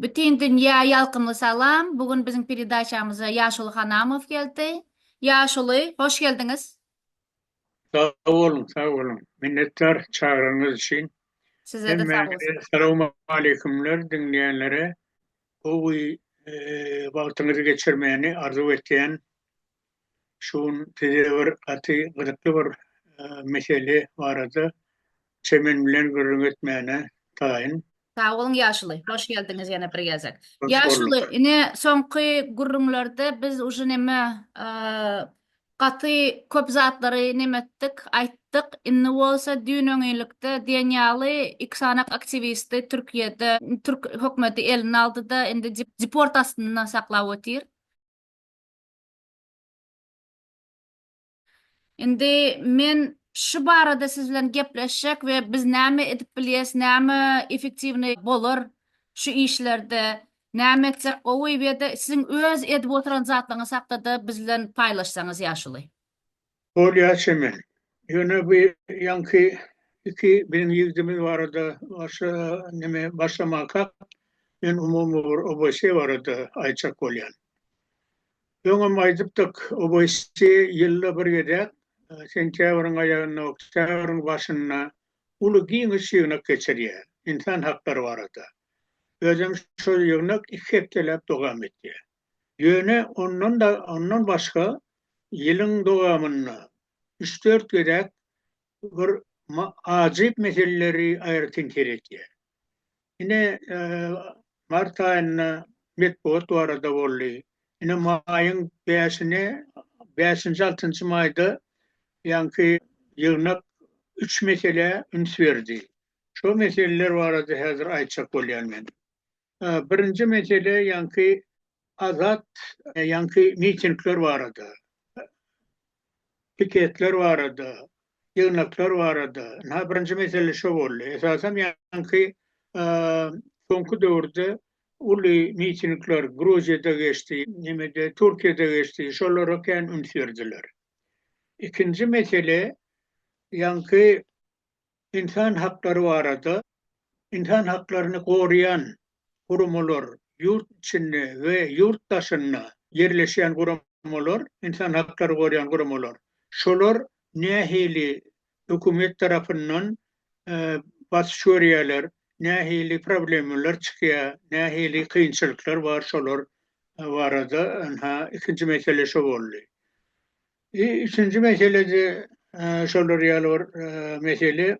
Bütin dünýä ýalkymly salam. Bu gün biziň peredaçamyza Ýaşuly Hanamow geldi. Ýaşuly, hoş geldiňiz. Sag boluň, sag boluň. Minnetdar çagranyňyz üçin. Sizede sag bolsun. Hemmäňize salawmaleýkumler, diňleýänlere gowy wagtyňyzy geçirmäni arzuw etýän. Şu gün size bir gaty gyzykly bir mesele barada çemen bilen gürrüň etmäne taýyn. Sag boluň ýaşuly. Hoş geldiňiz ýene bir gezek. Ýaşuly, ine soňky gürrüňlerde biz uje neme gaty köp zatlary neme etdik, aýtdyk. Indi bolsa düýn-öňňinlikde diýen ýaly iki sany aktiwisti Türkiýede türk hökümeti eline aldy-da, indi deport astynda saklap otyr. Indi men şu barada siz bilen gepleşjek we biz näme edip bilýäs, näme efektiwnyý bolar şu işlerde, näme etsek gowy we-de siziň öz edip oturan zatlaryňyz hakda-da biz bilen paýlaşsaňyz ýaşuly. Bolýar çemen. Ýöne bu ýaňky iki biziň ýigdimiz barada başga neme başlamakak, men umumy bir OBS barada aýtjak bolýan. Öňem aýdypdyk, OBS ýylda bir gezek, sentýabryň aýagynda, oktýabryň başynda uly giňiş ýygnak geçirýär, ynsan haklary barada. Özem şol ýygnak iki hepdeläp dowam etýär. Ýöne ondan-da ondan başga ýylyň dowamynda üç-dört gezek bir ajyp meseleleri aýratyn seretýär. Ine, mart aýynda metbugat barada boldy. Ine, maýyň bäşine, bäşinji, altynjy maýda ýaňky ýygnak üç meselä üns berdi. Şo meseleler barada häzir aýtjak bolýan men. Birinji mesele ýaňky azat ýaňky mitingler barada, piketler barada, ýygnaklar barada. Ynha birinji mesele şo boldy. Esasan ýaňky soňky döwürde uly mitingler Gruziýada geçdi, nemede Türkiýede geçdi, şolara kän üns berdiler. Ikinji mesele ýaňky Ynsan haklary barada ynsan haklaryny goraýan guramalar, ýurt içinde we ýurt daşynda ýerleşýän guramalar, ynsan haklary goraýan guramalar, şolar nähili hökümet tarapyndan basyş görýärler, nähili problemalar çykýar, nähili kynçylyklar bar, şolar barada ynha ikinji mesele şo boldy. I üçünji meselede şolar ýaly bir mesele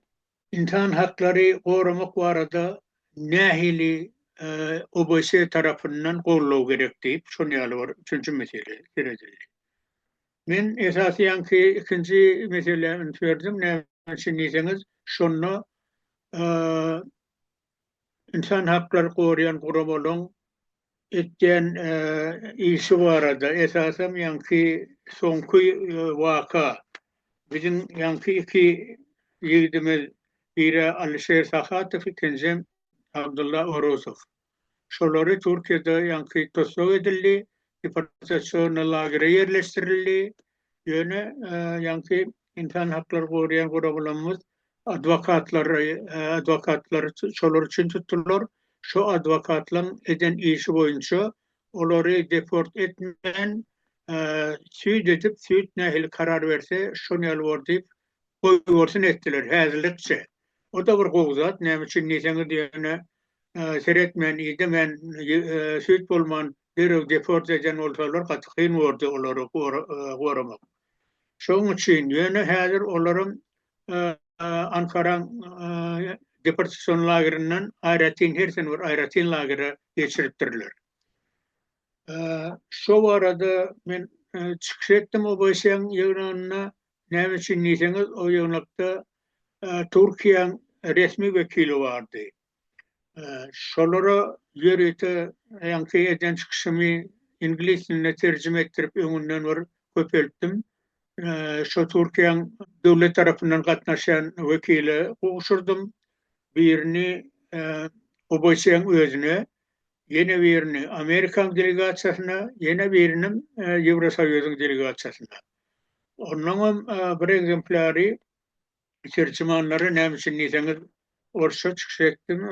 ynsan haklary goramak barada nähili OBS tarapyndan goldaw gerek diýip şon ýaly bir üçünji mesele seredildi. Men esasyýan ki ikinji meselä üns berdim näme üçin diýseňiz şonda ynsan haklary goraýan guramalaryň etýän işi barada, esasam ýaňky soňky waka, biziň ýaňky iki ýigidimiz, biri Alişer Sahatow, ikinjisem Abdulla Orusow. Şolary Türkiýede ýaňky tussag edildi, deportasiýona lagere ýerleşdirildi, Ýöne ýaňky ynsan haklary goraýan guramalymyz adwokatlary adwokatlary şolar üçin tutdular. Şo adwokatlaň eden işi boýunça olary deport etmän süýt edip süýt nähili karar berse şon ýaly bor diýip goýbersin etdiler häzirlikçe. O da bir gowy zat näme üçin diýseňiz ýöne seretmän idemän süýt bolman derrew deport eden bolsalar gaty kyn bordy olary goramak. Şoň üçin ýöne häzir olaram Ankaraň deportasion lagerinden aýratyn her sene bir aýratyn lagere geçiripdirler. Şo barada men çykyş etdim OBSE-iň ýygnagynda. Näme üçin diýseňiz o ýygnakda Türkiýäň resmi wekili bardy. Şolara ýörite ýaňky eden çykyşymy iňlis diline terjime etdirip öňünden bir köpeltdim. Şo Türkiýäň döwlet tarapyndan gatnaşýan wekile gowşurdym. Birini OBSE-iň özüne, ýene birini Amerikaň delegasiýasyna, ýene birini Ýewrosoýuzyň delegasiýasyna. Onnoňam bir ekzemplýary Terjimanlara näme üçin diýseňiz, orsça çykyş etdim,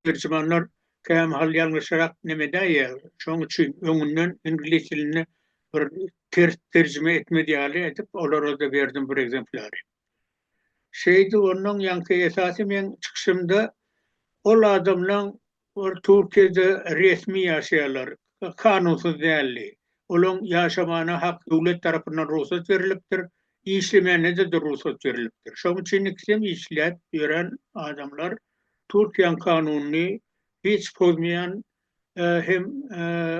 terjimanlar kämahal ýalňyşarak neme edäýýär. Şonuň üçin öňünden iňlis dilinde bir ters terjime etmez ýaly edip, olara-da berdim bir ekzemplary. Şeýdip, onnoň ýaňky esasy meň çykyşymda ol adamlaň Ol Türkiýede resmi ýaşaýarlar, kanunsyz däldi. Olaň ýaşamana hak döwlet tarapyndan rugsat berilipdir, işlemänede-de rugsat berilipdir. Şoň üçin ikisem işläp ýören adamlar Türkiýäň kanunyny hiç pozmaýan hem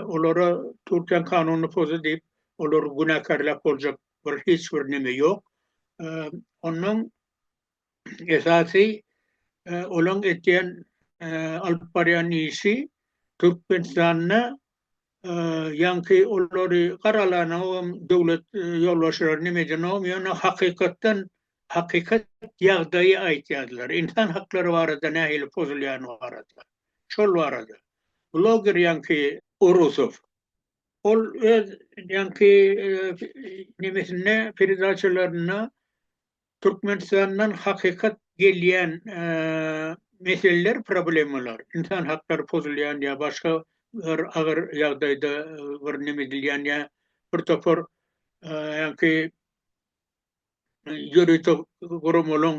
olara Türkiýäň kanunyny pozdy diýip olary günäkärläp boljak bir hiç bir neme ýok. Onnoň esasy olaň etýän alyp barýan işi Türkmenistanda ýaňky olary garalanogam döwlet ýolbaşçylary neme edenogam ýöne hakykatdan hakykat ýagdaýy aýtýarlar insan haklary barada nähili pozulýany barada şol barada bloger ýaňky Orusow ol öz ýaňky nemesinde peredaçalarynda Türkmenistandan hakykat gelýän meseleler, problemalar, ynsan haklary pozulýan ýa başga bir agyr ýagdaýda bir neme edilýän ýa bir topar ýaňky ýörite guramalaryň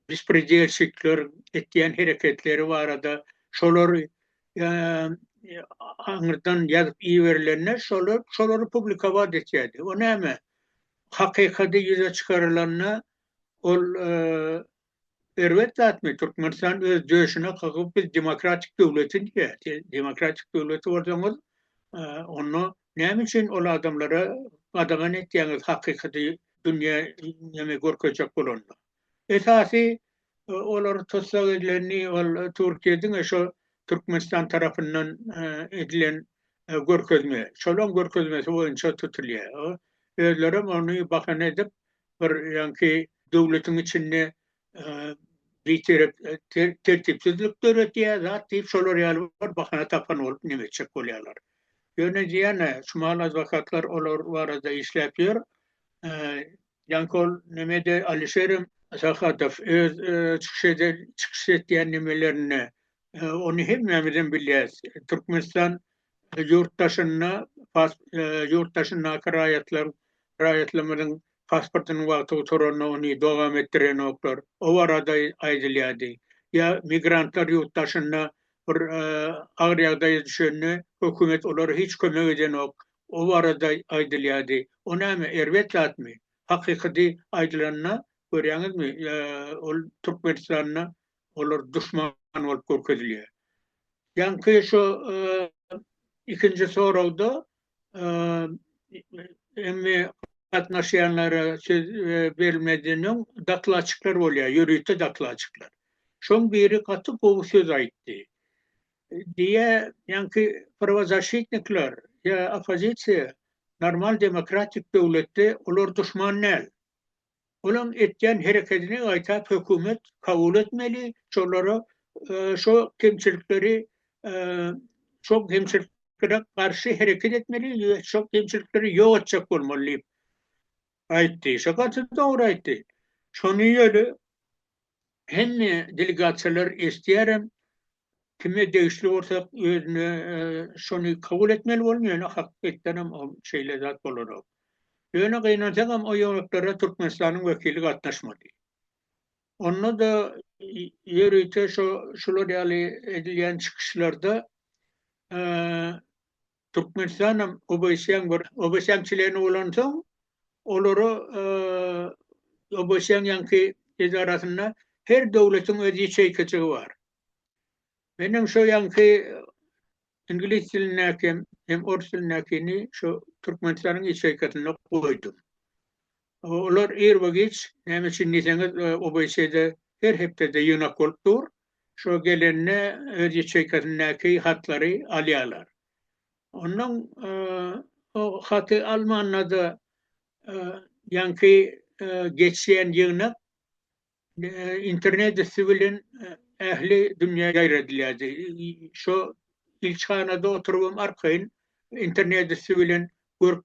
bespredelşikler etýän hereketleri barada şolar aňyrdan ýazyp iberilende şolar şolary publikować etýärdi. O näme? Hakykady ýüze çykarylanda ol erbet zatmy? Türkmenistan öz döşüne kakyp biz demokratik döwleti diýýär. Siz demokratik döwleti bolsaňyz onda näme üçin ol adamlara gadagan etýäňiz hakykady dünýä görkezjek bolanda? Esasy olar tussag edileni ol Türkiýe diňe şu Türkmenistan tarapyndan edilen görkezme, şolaň görkezmesi boýunça tutulýar. Özlerem ony bahana edip bir ýaňky döwletiň içinde bitirep tertipsizlik döretýär zat diýip şolar ýaly bir bahana tapan bolup neme etjek bolýarlar. Ýöne diýýän şu mahaladwakatlar olar barada işläp ýör. Janköl Nemede Alişerem Sahatow öz çykyş eden çykyş etýän nemelerinde ony hemmämizem bilýäs. Türkmenistan ýurt daşynda ýurt daşyndaky raýatlaryň raýatlarymyzyň pasportynyň wagty gutaranda ony dowam etdirenoklar. O barada aýdylýardy. Ýa migrantlar ýurt daşynda bir agyr ýagdaýa düşende hökümet olara hiç kömek edenok. O barada aýdylýardy. O näme, erbet zatmy? Hakykydy aýdylanda, görýäňizmi, ol Türkmenistanda olar duşman bolup görkezilýär. Ýaňky şo ikinji soragda emmi gatnaşýanlara söz berilmezden öň dokladçyklar bolýar, ýörite dokladçyklar. Şoň biri gaty gowy söz aýtdy. Diýe, ýaňky prowazaşitnikler ýa oppozisiýa normal demokratik döwletde olar duşman däl. Olaň etýän herekedini gaýtap hökümet kabul etmeli, şolara şo kemçilikleri şo kemçiliklere garşy hereket etmeli we şo kemçilikleri ýok etjek bolmaly diýip aýtdy. Şo gaty dogry aýtdy. Şony ýöne hemme delegasiýalar eşidýärem, Kime degişli bolsa özüne şony kabul etmeli bolun ýöne hakykatdanam ol şeýle zat bolanok. Ýöne gynansagam o ýonuklere Türkmenistanyň wekili gatnaşmady. Onda-da ýörite şo şular ýaly edilýän çykyşlarda Türkmenistanam ABŞ-yň bir ABŞ-yň çleni bolansoň, olara ABŞ-yň ýaňky edarasynda her döwletiň öz ýeçeýkajygy bar. Menem şo ýaňky iňlis dilindäki hem orus dilindäkini şo Türkmenistanyň ýeçeýkasynda goýdum. Olar ýerbe-giç näme üçin diýseňiz, ABŞ-da her hepdede ýygnak bolup dur. Şo gelende öz ýaçeýkasyndaky hatlary alýarlar. Ondan o haty almanda-da ýaňky geçýän ýygnak internet üsti bilen ähli dünýä ýaýradylýardy. Şo ilçihanada oturybam arkaýyn internet üsti bilen görüp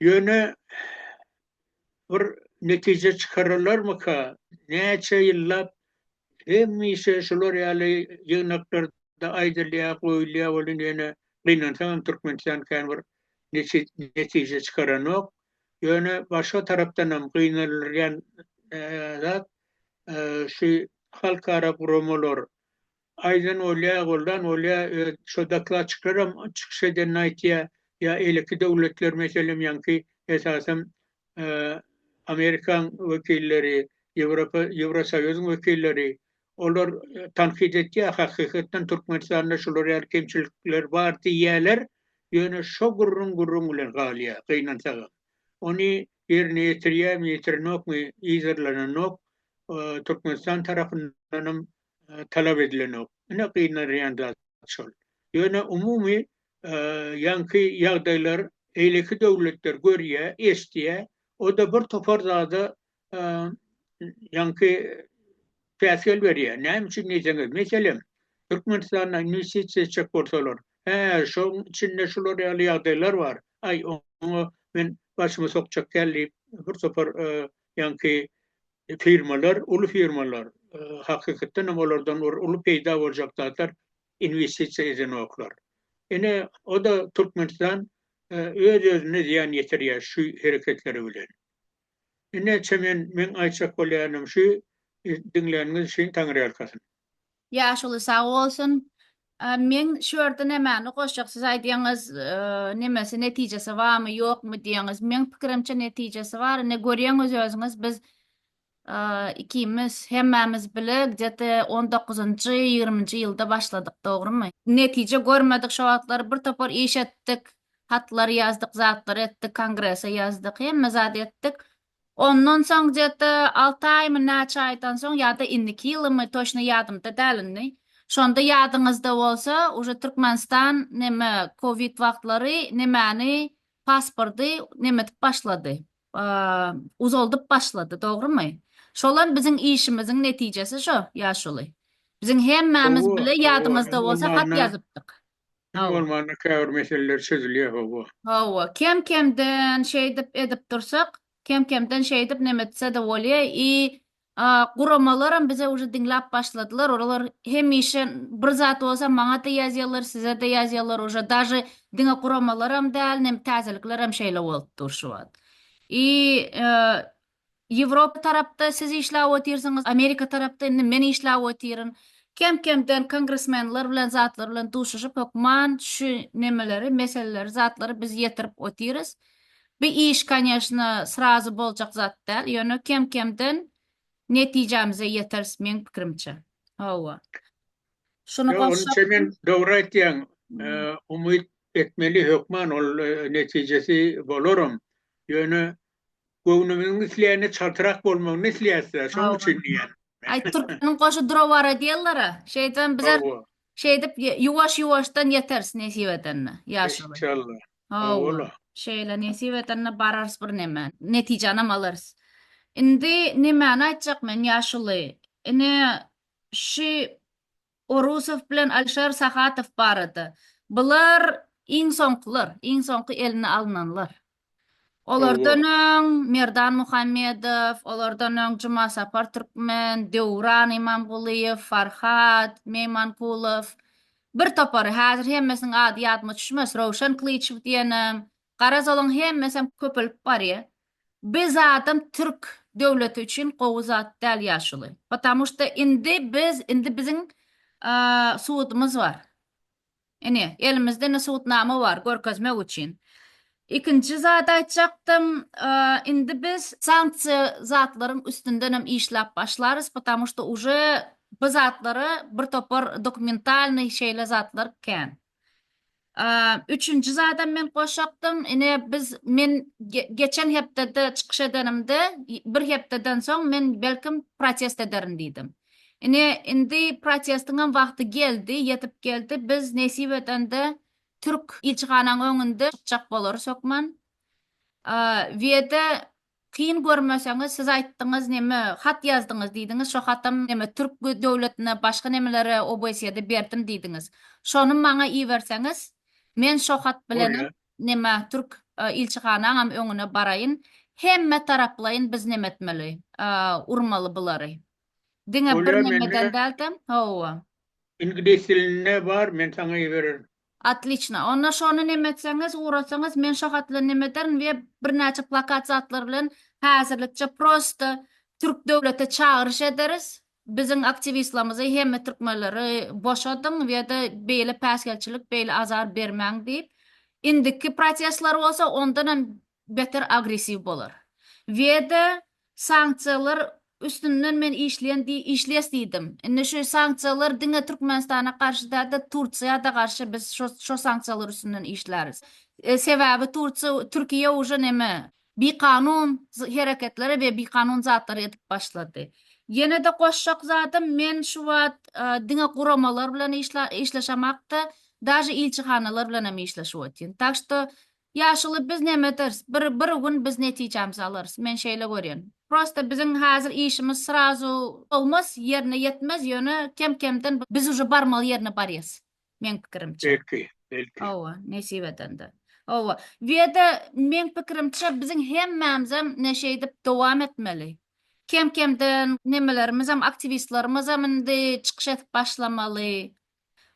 Ýöne bir netije çykaralarmyka? Näçe ýyllap hemişe şular ýaly ýygnaklarda aýdylýar, goýulýar welin ýöne gynansaň hem Türkmenistan kän bir netije çykaranok. Ýöne başga tarapdan hem gynandyrýan zat şu halkara guramalar Aýdan bolýa, goldan bolýa, öz şo dokladçiklaram çykyş edenini aýtýa, ýa eýleki döwletler meselem ýaňky esasam Amerikaň wekilleri, Ýewropa, Ýewrosoýuzyň wekilleri olar tankyt etýa, hakykatdan Türkmenistanda şular ýaly kemçilikler bar diýýäler, ýöne şo gürrüň gürrüň bilen galýa, gynansagam. Ony ýerine ýetirýämi, ýetirenokmy yzarlananok, Türkmenistan tarapyndanam talap edilenok. Ine gynanýan zat şol. Ýöne umumy ýaňky ýagdaýlar beýleki döwletler görýär, eşidýär. O-da bir topar zada ýaňky päsgel berýär. Näme üçin diýseňiz, meselem, Türkmenistana inwestisiýa etjek bolsalar, Hä, şoň içinde şular ýaly ýagdaýlar bar. Aý, oňa men başymy sokjak däl diýip, bir topar Ýaňky firmalar, uly firmalar, hakykatdan hem olardan bir uly peýda boljak zatlar inwestisiýa edenoklar. Ine, o-da Türkmenistan öz-özüne zyýan ýetirýär şu hereketleri bilen. Ine, çemen meň aýtjak bolýanym şu, diňläniňiz üçin Taňryýalkasyn. Ýaşuly sag bolsun. Men şu ýerde nämäni goşjak siz aýdýaňyz nemesi netijesi barmy ýokmy diýýäňiz meň pikirimçe netijesi bar ine görýäňiz özüňiz biz ikimiz hemmämiz bile gde te on dokuzynjy ýigriminji ýylda başladyk dogrymy netije görmedik şo wagtlar bir topar iş etdik hatlar ýazdyk zatlar etdik kongrese ýazdyk hemme zat etdik Ondan soň gde alty aýmy näçe aýdan soň ýada indiki ýylymy toçny ýadymda däl indi şonda ýadyňyzda bolsa uje türkmenistan neme covid wagtlary nemäni paspordy nemedip başlady uzaldyp başlady dogrymy şolam biziň işimiziň netijesi şo ýaşuly biziň hemmämiz bile ýadyňyzda bolsa hat ýazypdyk. Kim Hawa. bolmanda käbir meseleler çözülýär hawa. Hawa, kem kemden şeýdip edip dursak, kem kemden şeýdip neme etsede bolýa i a guramalaram bize uje diňläp başladylar, olalar hemişe bir zat bolsa maňada ýazýalar, sizede ýazýalar uje daže diňe guramalaram däl nem täzeliklerem şeýle bolup dur şu wagt. I a Ýewropa tarapda siz işläp otyrsyňyz, Amerika tarapda indi men işläp otyryn. Kem-kemden kongresmenler bilen zatlar bilen duşuşyp hökman şu nemeleri, meseleleri, zatlary biz ýetirip otyrys. Bu iş konýeşna srazu boljak zat däl, ýöne kem-kemden netijämize ýeteris meň pikirimçe. Hawa. Şuny Ýok, goşsakda. Ýok, sen dogry aýtýaň. Umyt etmeli hökman ol netijesi bolaram. Ýöne Göwnümiziň isleýäne çaltrak bolmagyny isleýäs-dä, şonuň üçin diýýän. Aý, türkmeniň goşy dura bara diýerler-ä. Şeýdibem bizem Hawa. şeýdip ýuwaş-ýuwaşdan ýeteris nesip edende, ýaşuly. Enşalla. Hawa-la. Şeýle nesip edende bararys birneme, netijanam alarys. Indi nemäni aýtjak men, ýaşuly? Ine, şü Orusow bilen Alişer Sahatow barada. Bular iň soňkular, iň soňky eline alynanlar. Olardan öň Merdan Muhammedow, olardan öň Jumasapar Türkmen, Döwran Imamgulyýew, Farhat Meýmankulow, bir topary, häzir hemmesiniň ady ýadyma düşmez, Röwşen Klyçew diýenem, Garaz olaň hemmesem köpelip barýa. Bi zadam türk döwleti üçin gowy zat däl ýaşuly. Patamu şda indi biz indi biziň sudumyz bar. Ine elimizde indi sudnama bar görkezmek üçin. Ikinji zat aýtjakdym indi biz sanksiýa zatlaryň üstündenem işläp başlarys patamu şda uje bi zatlara bir topar dokumentalnyý şeýle zatlar kän. Üçünji zadam men goşakdym. Ine biz men geçen hepdede çykyş edenimde bir hepdeden soň men belkim protest ederin diýdim. Ine indi protestiňem wagty geldi, ýetip geldi. Biz nesip edende türk ilçihanaň öňünde çykjak bolarys hökman. Weda Kyn görmeseňiz siz aýtdyňyz neme hat ýazdyňyz diýdiňiz şo hatam neme türk döwletine başga nemelere obsýada berdim diýdiňiz şony maňa iberseňiz men şo hat bilenem neme türk ilçihanaňam öňüne baraýyn hemme taraplaýyn biz neme etmeli urmaly bulary diňe bir nemeden dälde hawa. Iňlis dilinde bar men saňa ibererin. Otliçna. Onda şony neme etseňiz, ugrasaňyz, men şo hat bilen neme ederin we birnäçe plakat zatlar bilen häzirlikçe prosta türk döwlete çagyryş ederis, biziň aktiwistlamyzy hemme türkmenleri boşadyň we-de beýle päsgelçilik, beýle azar bermäň diýip. Indiki protestler bolsa ondan hem beter agressiw bolar. Weda sanksiýalar üstünden men işleýän di işles diýdim. Indi şu sanksiýalar diňe Türkmenistana garşy dälde Tursiýada garşy biz şo şo sanksiýalar üstünden işläris. Sebäbi Tursiýa Türkiýe uje neme bikanun hereketleri we bikanun zatlary edip başlady. Ýenede goşjak zadym men şu wagt diňe guramalar bilen işle işleşemakda daže ilçihanalar bilen hem işleşip otyryn. Tak što Ýaşuly biz näme ederis? Bir bir gün biz netijämizi alarys. Men şeýle görýän. Prosta biziň häzir işimiz srazu bolmaz, ýerine ýetmez, ýöne kem kemden biz uje barmaly ýerine barýas. Meň pikirimçe. Belki, belki. Hawa, nesip edende. Hawa. Weda meň pikirimçe biziň hemmämizem ne şeýdip dowam etmeli. Kem kemden nemelermizem aktiwistlermizem indi çykyş edip başlamaly.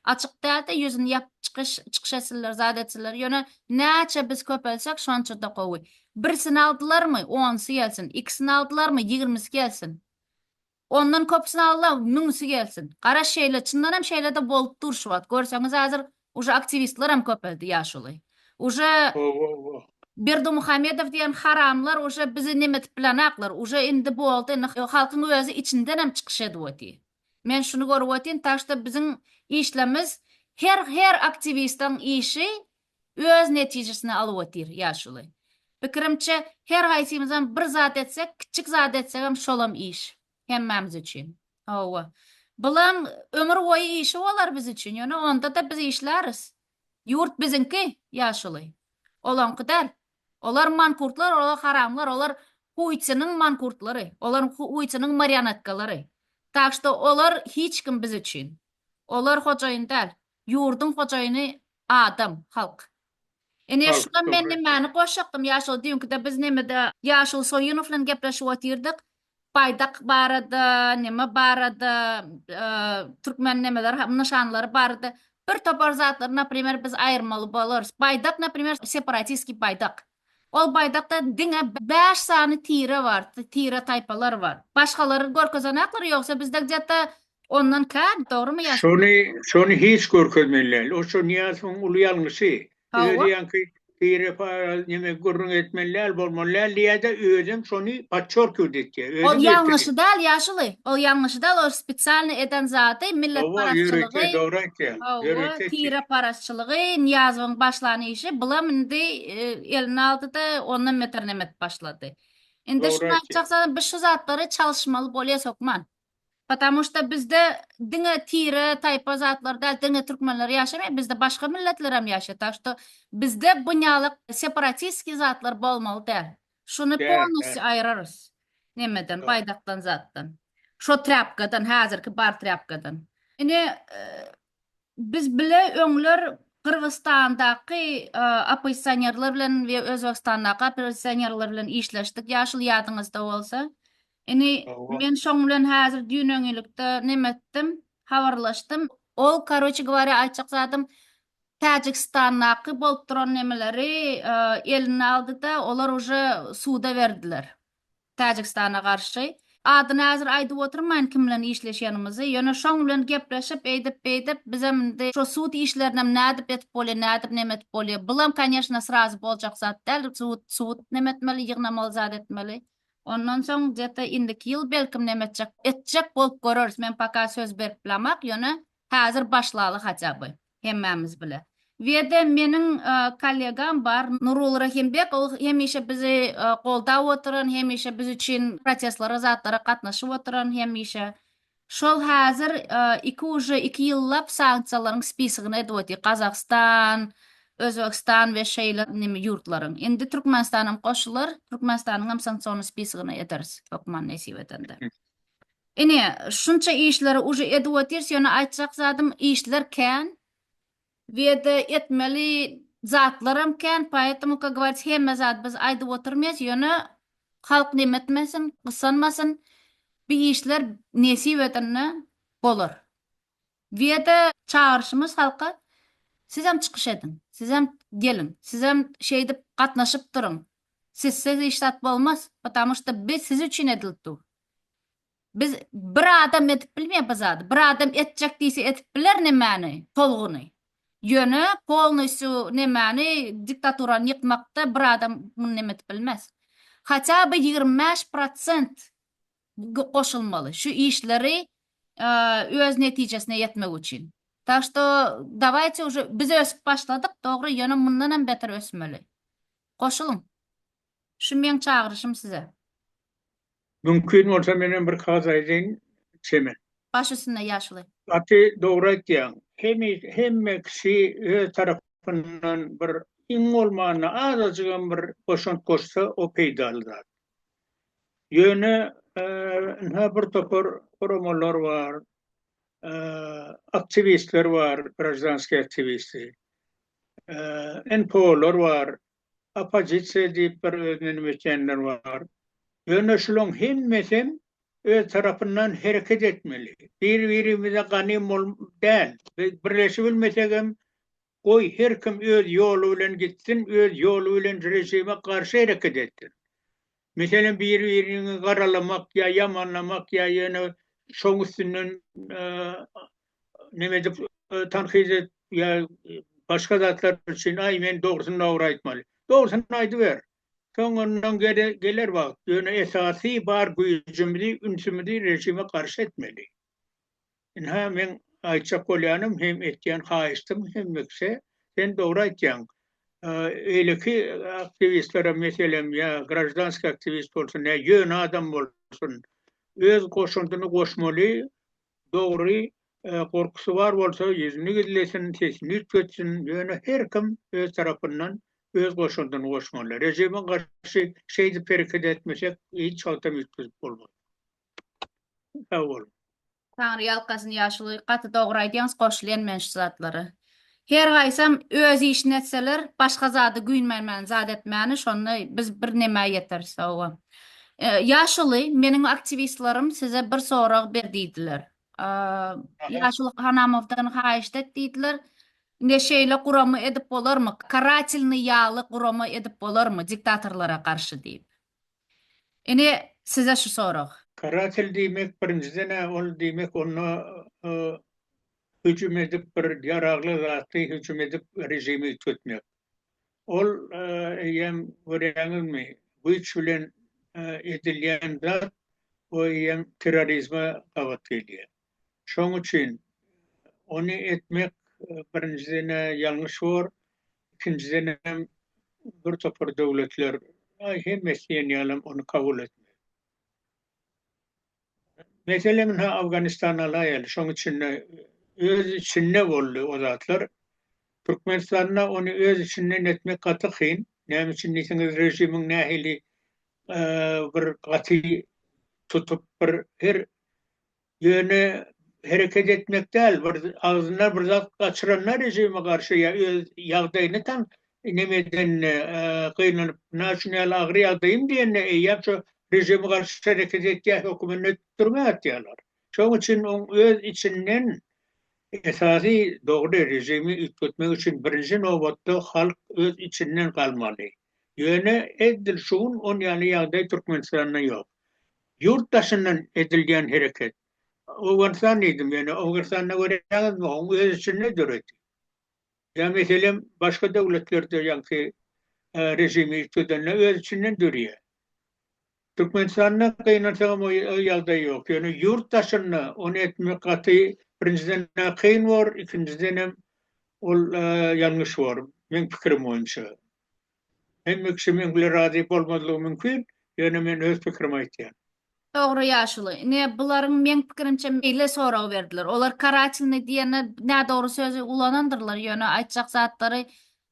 Açyk dälde ýüzini ýapyp çykyş çykyş etsinler zat etsinler ýöne näçe biz köpelsek şonçada gowy. Birsini aldylarmy onsy gelsin ikisini aldylarmy ýigirmisi gelsin. Ondan köpüsini aldylar müňüsi gelsin. Gara şeýle çyndan hem şeýlede bolup dur şu wagt görseňiz hazir uje aktiwistler hem köpeldi ýaşuly. Uje Berdimuhamedow diýen haramlar uje bizi nemetip bilenaklar uje indi boldy indi halkyň özi içinden hem çykyş edip otyr. Men şuny görüp otyryn tak şta biziň işlemiz her her aktiwistaň işi öz netijesini alyp otyr ýaşuly. Pikirimçe her haýsymyzam bir zat etsek kiçjik zat etsegem şolam iş hemmämiz üçin. Hawa. Bulam ömür boýy işi bolar biz üçin ýöne ondada biz işläris. Ýurt biziňki ýaşuly. Olaňky däl. Olar mankurtlar, olar haramlar, olar huýçynyň mankurtlary, olar huýçynyň marionetkalary. Tak što olar hiç kim biz üçin. Olar hojaýyn däl. Ýurduň hojaýyny adam, halk. Ine şuda men nimäni goşjakdym ýa şol düýnkide biz nemede Ýaşuly Soýunow bilen gepleşip otyrdyk. Baýdak barada, neme barada, türkmen nemeler, nyşanlary barada bir topar zatlary, naprimer, biz aýyrmaly bolarys. Baýdak, naprimer, separatiskiý baýdak. Ol baýdakda diňe bäş sany tire bar, tire-taýpalar bar. Başgalary görkezenoklar, ýogsa bizde gde-ta Ondan kän, dogrymy ýa? Şony, şony hiç görkezmeli däl. O şo Nyýazowyň uly ýalňyşy. Özi ýaňky tire para neme gürrüň etmeli däl, bolmaly däl diýýä-de, özem şony podçerkiwat etýä. Ol ýalňyşy däl ýaşuly. Ol ýalňyşy däl, ol spesialny eden zady, milletparazçylygy. Hawa, tire parazçylygy, Nyýazowyň başlan işi, bulam indi eline aldy-da, ondan beter neme edip başlady. Indi şuny aýtjaksa, biz şu zatlary çalyşmaly bolýas hökman. Patamu şda bizde diňe tire, taýpa zatlar däl, diňe türkmenler ýaşamaýar, bizde başga milletlerem ýaşaýar, tak şdo bizde bunýalak separatiskiý zatlar bolmaly däl. Şuny Däl, däl. polnostýu aýyrarys nemeden, Dogry. baýdakdan zatdan. Şo trýapkadan, häzirki bar trýapkadan. Ine, Biz bile öňler Gyrgyzstandaky oppozisionerler bilen we Özbegistandaky oppozisionerler bilen işleşdik, ýaşuly ýadyňyzda bolsa. Indi men şoň bilen häzir düýn-öňňilikde neme etdim, habarlaşdym. Ol, karoçe gwarýa, aýtjak zadym, Täjigistandaky bolup duran nemeleri eline aldy-da, olar uje suda berdiler. Täjigistana garşy. Adyny häzir aýdyp oturmaýyn kim bilen işleşenimizi, ýöne şoň bilen gepleşip, eýdip-beýdip, bizem indi şo sud işlerinem nädip etip bolýa, nädip neme etip bolýa, bulam konýeşne srazy boljak zat däl, sud, sud neme etmeli, ýygnamaly zat etmeli. Ondan soň gde-te indiki ýyl belkim neme etjek, etjek bolup göreris, men poka söz berip bilemak, ýöne häzir başlaly hatýa by. hemmämiz bile. Wede meniň kollegam bar Nuruly Rahimbek ol hemişe bizi goldap oturan hemişe biz üçin protestlara zatlara gatnaşyp oturan hemişe şol häzir iki uje iki ýyllap sanksiýalaryň spisigini edip otyr Gazagystan Özbegistan we şeýle neme ýurtlaryň indi Türkmenistanam goşular Türkmenistanyňam sanksiony spisigini ederis hökman nesip edende. Ine, şunça işleri uje edip otyrys, ýöne aýtjak zadym işler kän we-de etmeli zatlaram kän, poetomu, ka gowarits, hemme zady biz aýdyp otyrmys, ýöne halk neme etmesin, gysanmasyn, bi işler nesip edende bolar. We-de çagyryşymyz halka, sizem çykyş ediň, sizem geliň, sizem şeýdip gatnaşyp duruň, sizsiz hiç zat bolmaz, patamu şda bi siz üçin edilip dur. Biz bir adam edip bilmeýär bu zady. Bir adam etjek diýse edip biler nemäni, tolguny. Ýöne polnostýu nemäni diktaturany ýykmakda bir adam muny neme edip bilmez. Haça by ýigrimi bäş prosent goşulmaly şu işleri öz netijesine ýetmek üçin. Tak şto dawaýte uje biz ösüp başladyk dogry ýöne mundanam beter ösmeli. Goşulyň. Şu meň çagyryşym size. Mümkin bolsa menem bir kagyz aýdaýyn çemen. Baş üstünde ýaşuly. Gaty dogry aýtýaň. Hemis hemme kişi öz tarapyndan bir iň bolmanda azajygam bir goşant goşsa o peýdaly zat. Ýöne ynha bir topar guramalar bar, aktiwistler bar, grajdanskiý aktiwisti, NPO-lar bar, oppozisiýa diýip bir özüne nime etýänler bar. Ýöne şulaň hemmesem öz tarapyndan hereket etmeli. Bir-birimize ganym bol däl. Biz birleşibilmesegem, goý her kim öz ýoly bilen gitsin, öz ýoly bilen režime garşy hereket etsin. Meselem, bir-biriňi garalamak ýa ýamanlamak ýa ýöne şoň üstünden neme edip tankyt edip ýa başga zatlar üçin aý men dogrusyny dogry aýtmaly. Dogrusyny aýdyber. Soňundan geler wagt. Ýöne esasy bar güýjümizi, ünsümizi režime garşy etmeli. Ynha, meň aýtjak bolýanym hem etýän haýyştym hemmikse, sen dogry aýtýaň. Beýleki aktiwistlere, meselem, ýa graždanskiý aktiwist bolsun, ýa ýöne adam bolsun, öz goşandyny goşmaly, dogry, gorkusy bar bolsa, ýüzüni gizlesin, sesini üýtgetsin, ýöne her kim öz tarapyndan öz goşandyny goşmaly. Režime garşy şeýdip hereket etmesek, hiç wagtam üýtgedip bolmaz. Sag bol. Taňry ýalkasyn ýaşuly gaty dogry aýdýaňyz goşulýan men şu zatlara. Her gaýsam öz işini etseler başga zada güýnmämäni zat etmäni şonda biz bir nämä ýeteris hawa. Ýaşuly meniň aktiwistlerim size bir sorag ber diýdiler. Ýaşuly Hanamowdan haýyşt et diýdiler. Ine şeýle gurama edip bolarmy? Karatelnyý ýaly gurama edip bolarmy diktatorlara garşy diýip. Ine size şu sorag. Karatel diýmek birinjiden-ä ol diýmek onda hüjüm edip bir ýaragly zatly hüjüm edip režimi üýtgetmek. Ol eýýäm görýäňizmi güýç bilen edilýän zat we eýýäm terrorizme gabat gelýär. Şoň üçin ony etmek birinjiden-ä ýalňyş bor, ikinjidenem bir topar döwletler aý hemmesi diýen ýalam ony kabul etmez. Meselem ynha Awganystany alaýaly, şoň içinde öz içinde boldy o zatlar. Türkmenistanda ony öz içinden etmek gaty kyn. Näme üçin diýseňiz režimiň nähili bir gaty tutup bir her Ýöne hereket etmek däl, bir agzyndan bir zat gaçyranda režime garşy ýa öz ýagdaýyny tan neme edenini gynanyp nä şu näl agyr ýagdaýym diýende eýýäm şu režime garşy hereket etýär hökümini ötüp türmä atýarlar. Şoň üçin oň öz içinden esasy dogry režimi üýtgetmek üçin birinji nobatda halk öz içinden galmaly. Ýöne eddil şu gün on ýaly ýagdaý Türkmenistanda ýok. Ýurt daşyndan edilýän hereket. Owganystan diýdim ýöne Owganystanda görýäňizmi oň öz içinde döredi. Ýa meselem başga döwletlerde ýaňky režimi üýtgedende öz içinden dörýär. Türkmenistanda gynansagam o ýagdaý ýok ýöne ýurt daşynda ony etmek gaty birinjiden na kyn bor ikinjidenem ol ýalňyş bor meň pikirim boýunça. Hemme kişi meň bilen razy bolmazlygy mümkin, ýöne men öz pikirimi aýtýan. Dogry ýaşuly. Ine bularyň meň pikirimçe meýle sorag berdiler. Olar karatelny diýende nädogry sözi ulanandyrlar, ýöne aýtjak zatlary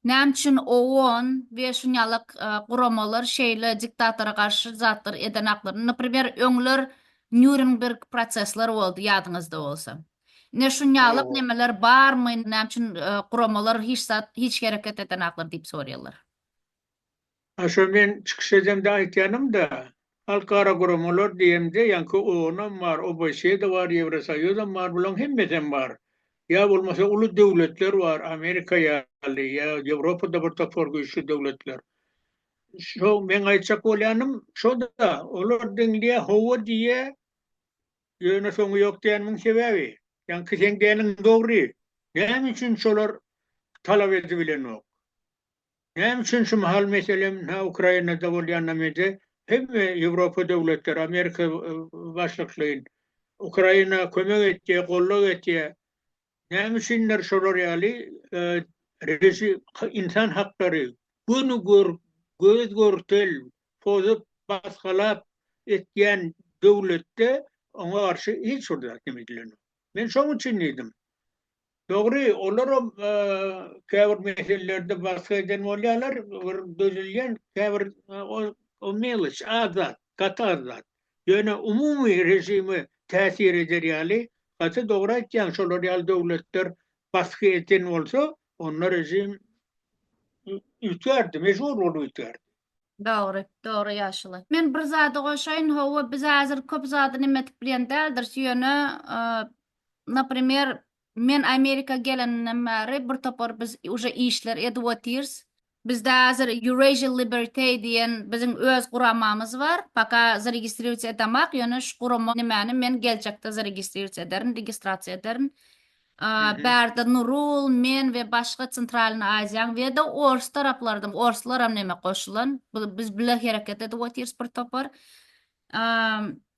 näme üçin OON we şunýalak guramalar şeýle diktatora garşy zatlar edenaklaryny, naprimer öňler Nýurenberg prosesler boldy ýadyňyzda bolsa. Ine şunýalak nemeler barmy, näme üçin guramalar hiç zat, hiç hereket edenaklar diýip sorýarlar. A şo men çykyş edemde aýtýanymda, halkara guramalar diýemde ýaňky OON-am bar, OBSE-de bar, Ýewrosoýuzam bar, bularyň hemmesem bar. Ýa bolmasa uly döwletler bar, Amerika ýaly, ýa Ýewropada bir topar güýçli döwletler. Şo meň aýtjak bolýanym şo-da, olar diňleýär, hawa diýýär, Ýöne soňy ýok diýen muň sebäbi. Ýaňky seň däniň dogry. Näme üçin şolar talap edibilenok. Näme üçin şu mahal meselem na Ukrainada bolýan na mede hemme Ýewropa döwletleri Amerika başlyklyn Ukraina kömek etýä gollag etýä näme üçindir şolar ýaly režim insan haklary göni gör göz görtel pozup, basgalap etýän döwletde oňa garşy hiç bir zat neme edilenok. Men şoň üçin diýdim. Dogry, olaram käbir meselelerde basga eden bolýarlar, bir dözülýän, käbir o meloç, az zat, gaty az zat. Ýöne umumy režime täsir eder ýaly, gaty dogry aýtýaň, şolar ýaly döwletler basga eden bolsa, onda režim üýtgärdi, mejbur bolup üýtgärdi. Dogry, dogry ýaşuly. Men bir zady goşaýyn, hawa biz häzir köp zady neme edip bilýän däldiris, ýöne naprimer men Amerika gelenimden bäri bir topar biz uje işler edip otyrs. Bizde häzir Eurasia Liberty diýen biziň öz guramamyz bar, paka zaregistriruýsiýa edemak, ýöne şu gurama nemäni men geljekde zaregistriruýsiýa ederin, registrasiýa ederin. Bärde Nurul, men we başga Centralnyý Aziýaň we-de ors taraplardan, orslaram näme goşulan, biz bile hereket edip otyrys bir topar.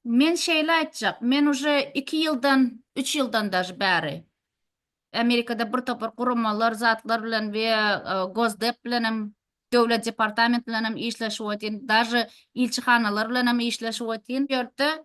Men şeýle aýtjak, men uje iki ýyldan, üç ýyldan daže bäri Amerikada bir topar guramalar, zatlar bilen we Gosdep bilenem, Döwlet departament bilenem işleşip otyryn, daže ilçihanalar bilenem işleşip otyryn. Bu ýerde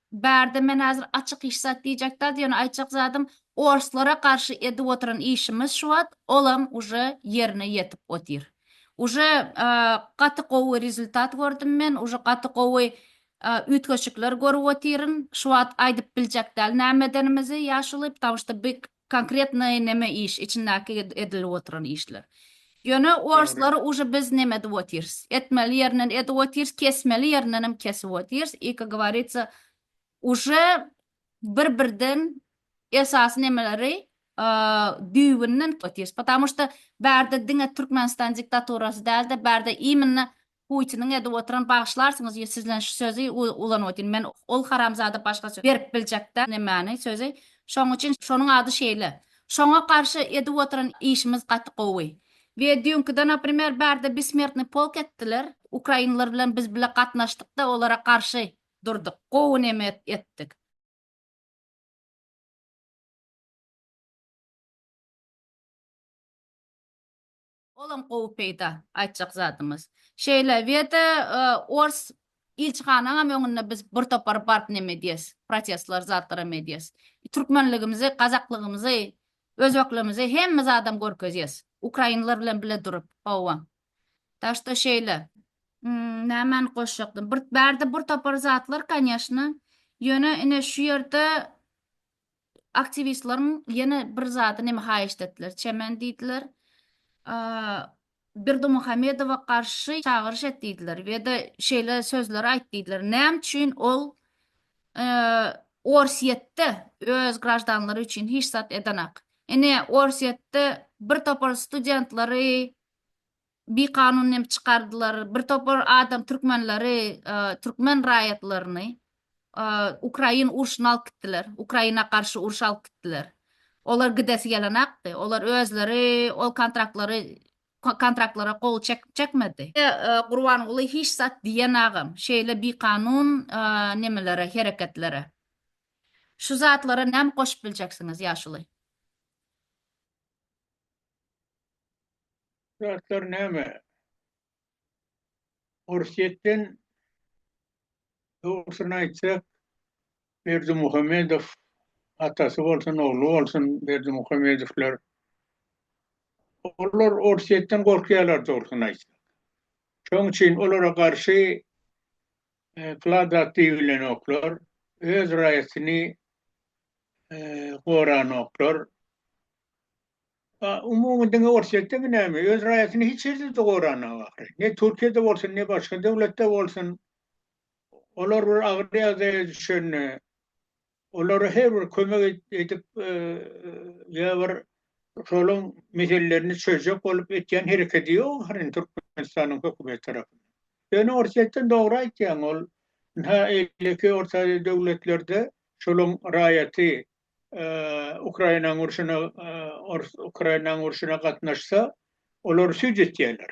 Bärde men hazir açyk hiç zat diýjek dal ýöne aýtjak zadym orslara garşy edip oturan işimiz şu wagt olam uje ýerine ýetip otyr uje gaty gowy rezultat gördüm men uje gaty gowy üýtgeşikler görüp otyryn şu wagt aýdyp biljek dal näme edenimizi ýaşuly ptamşda big Konkretnoý neme iş içindäki edilip oturan işler. Ýöne orslary uje biz neme edip otyrs. Etmeli ýerinden edip otyrs kesmeli ýerindenem kesip otyrs i ka govoritsa uje bir birden esasy nemeleri düýbünden otyrs. Potamoşta bärde diňe Türkmenistan diktaturasy dälde bärde iminna Putiniň edip oturan bagyşlarsyňyz ýe sizlen şu sözi ulanyp otyryn men ol haramzada başga söz berip biljekdä nemäni sözi şoň üçin şonuň ady şeýle şoňa garşy edip oturan işimiz gaty gowy we düýnkide naprimer bärde besmertny polk etdiler ukrainler bilen biz bile gatnaşdykda olara garşy durduk gowy neme etdik. Olam gowy peýda aýtjak zadymyz. Şeýle weda ors ilçihanaňam öňünde biz bir topar baryp neme diýes, protestler zatlaram edýes. Türkmenligimizi, gazaklygymyzy, özbeklimizi hemme zadam görkezýes. Ukrainler bilen bile durup, howwa. Tak şto şeýle. Nämeni goşjakdym? Bir bärde bir topar zatlar, kanyeshna. Ýöne ine şu ýerde aktiwistleriň ýene bir zady neme haýyşt etdiler, çemen diýdiler, Berdimuhamedowa garşy çagyryş et diýdiler we-de şeýle sözleri aýt diýdiler, näme üçin ol Orsýetde öz graždanlary üçin hiç zat edenak? Ine, Orsýetde bir topar studentlary bi kanun hem çykardylar bir topar adam türkmenleri türkmen raýatlaryny ukrain urşuna alyp gitdiler ukraina garşy uruş alyp gitdiler olar gidesi gelenakdy olar özleri ol kontraktlary kontraktlara gol çekmedi gurbanguly hiç zat diýen agam şeýle bi kanun nemelere hereketlere şu zatlara näme goşup biljeksiňiz ýaşuly. zatlar näme? Orsýetden dogrusyny aýtsak, Berdimuhamedow atasy bolsun, ogly bolsun, Berdimuhamedowlar olar Orsýetden gorkýarlar dogrusyny aýtsak. Şonuň üçin olara garşy e, kladat diýilenoklar, öz raýatyny e, goranoklar. A, umumy diňe Orsýetdemi näme? Öz raýatyny hiç ýerde-de goranok ahyry. Ne Türkiýede bolsun, ne başga döwletde bolsun. Olar bir agyr ýagdaýa düşende, olara her bir kömek edip, ýa bir şolaň meselelerini çözjek bolup etýän hereketi ýok ahyry Türkmenistanyň hökümeti tarapyndan. Ýöne Orsýetden dogry aýtýaň, ol, ynha, eýleki Orta Aziýa döwletlerde şolaň raýaty Ukrainanyň urşuna Ukrainanyň urşuna gatnaşsa, olar süýt etýärler.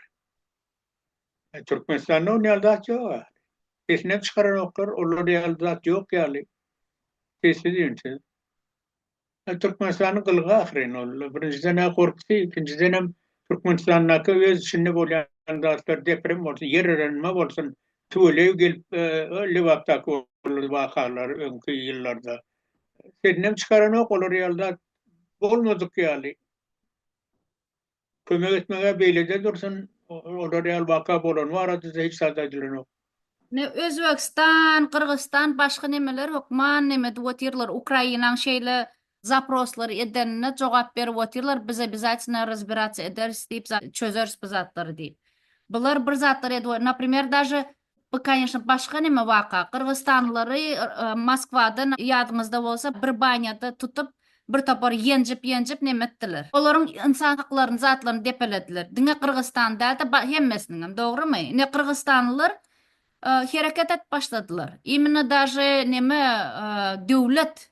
E, Türkmenistanda ol ýaly zat ýok. Sesini çykaranoklar, olar ýaly zat ýok ýaly. Sessiz üýnsiz. E, Türkmenistanyň gylgy ahyryn ol. Birinjiden ha gorkusy, ikinjiden hem Türkmenistandaky öz içinde bolýan zatlar deprem bolsun, ýer yranma bolsun, tüweleý gelip, e, Lebapdaky wakalar öňki ýyllarda. Şenem çykaranok olar ýalda bolmadyk ýaly. Kömek etmege beýlede dursun olar ýaly waka bolan barada hiç zat aýdylanok. Ne Özbegistan, Gyrgyzystan başga nemeler hökman neme edip otyrlar Ukrainaň şeýle zaproslary edenine jogap berip otyrlar biz obýazatino razbirats ederis diýip çözeris bu zatlary diýip. Bular bir zatlar edip naprimer daže Bu kanyşna başga neme waka, gyrgyzstanlylary Moskwadan ýadyňyzda bolsa bir banýada tutup bir topar ýenjip ýenjip neme etdiler. Olaryň ynsan haklaryny zatlaryny depelediler. Diňe gyrgyzstany dälde hemmesiniňem dogrymy? Ine gyrgyzstanlylar hereket et başladylar. Imенно daže neme döwlet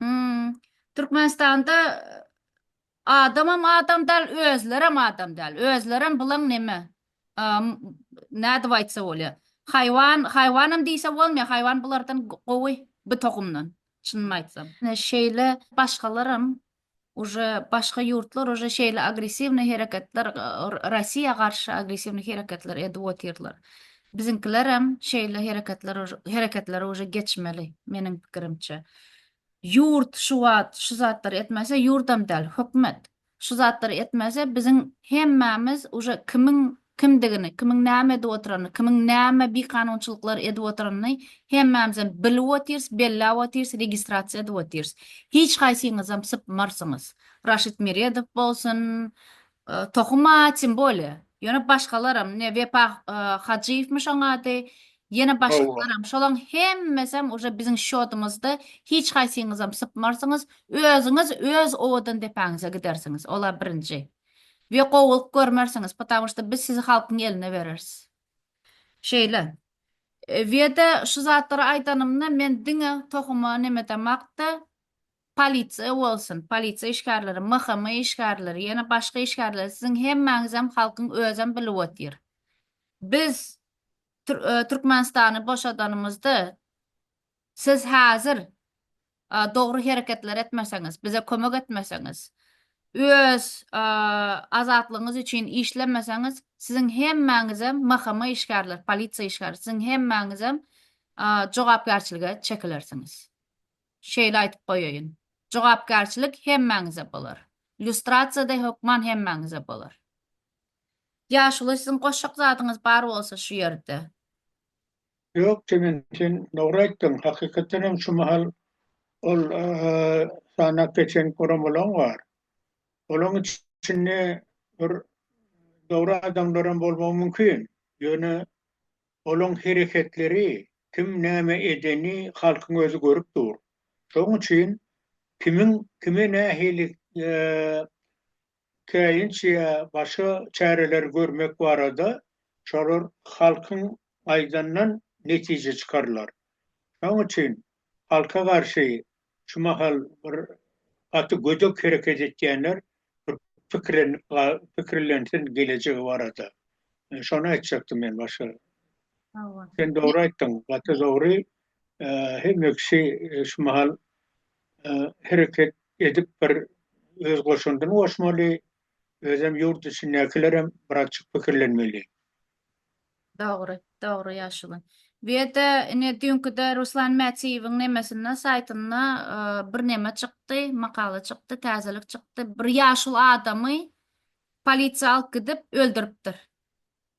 Hmm. Türkmenistanda adamam adam däl, özlerem adam däl. Özlerem bulan neme? Am, nädip aýtsa bolýar? Haýwan, haýwanam diýse bolmaýar. Haýwan bulardan gowy, bu tohumdan. Çynymy aýtsam. Şeýle başgalaram Uje başga ýurtlar uje şeýle agressiwny hereketler Rossiýa garşy agressiwny hereketler edip otyrlar. Biziňkilerem şeýle hereketler hereketlere uje geçmeli meniň pikirimçe. Ýurt şu wagt şu zatlary etmese ýurdam däl hökümet şu zatlary etmese biziň hemmämiz uje kimiň kimdigini, kimiň näme edip oturanyny, kimiň näme bikanunçylyklar edip oturanyny hemmämizem bilip otyrs, belläp otyrs, registrasiýa edip otyrs. Hiç haýsyňyzam sypmarsyňyz. Raşid Meredow bolsun, Tohum a, tim bole. Ýöne başgalaram, ine, Wepa Hajyýewmiş oň ady, ýene başgalaram, şolaň hemmesem uje biziň şýodymyzda, hiç haýsyňyzam sypmarsyňyz, özüňiz öz owadan depäňize gidersiňiz. Ol-a birinji. we gowulyk görmersiňiz, ptawo şto biz sizi halkyň eline bereris. Şeýle. Weda şu zatlary aýdanymda men diňe tohuma neme damakda polisiýa bolsun, polisiýa işgärleri, MHM işgärleri, ýene başga işgärleri siziň hemmäňizem halkyň özem bilip otyr. Biz Türkmenistany boşadanymyzda siz häzir dogry hereketler etmeseňiz, bize kömek etmeseňiz, öz azatlygyňyz üçin işlemeseňiz, siziň hemmäňizem MHM işgärleri, polisiýa işgärleri, siziň hemmäňizem jogapkärçilige çekilersiňiz. Şeýle aýdyp goýaýyn. Jogapkärçilik hemmäňize bolar. Lýustrasiýa-da hökman hemmäňize bolar. Ýaşuly, siziň goşjak zadyňyz bar bolsa şu ýerde. Ýok jigim sen dogry aýtdyň hakykatdan hem şu mahal ol sanap geçen guramalaň bar. Olaň içinde bir dogry adamlaram bolmagy mümkin. Ýöne olaň hereketleri kim näme edeni halkyň özi görüp dur. Şoň üçin kimiň kime nähili käýinç ýa başga çäreleri görmek barada şolar halkyň aýdandan netije çykarylar. Şoň üçin halka garşy şu mahal bir gaty gödek hereket etýänler bir pikirlensin gelejegi barada. Şony aýtjakdym men başga. Sen dogry aýtdyň, gaty dogry. hemme kişi şu mahal hereket edip bir öz goşandyny goşmaly, özem ýurt içindäkilerem birazjyk pikirlenmeli. Dogry, dogry ýaşuly. Bu ýerde ine düýnküde Ruslan Mätiýewiň nemesinde, saýtynda bir neme çykdy, makala çykdy, täzelik çykdy. Bir ýaşuly adamy polisiýa alyp gidip öldüripdir.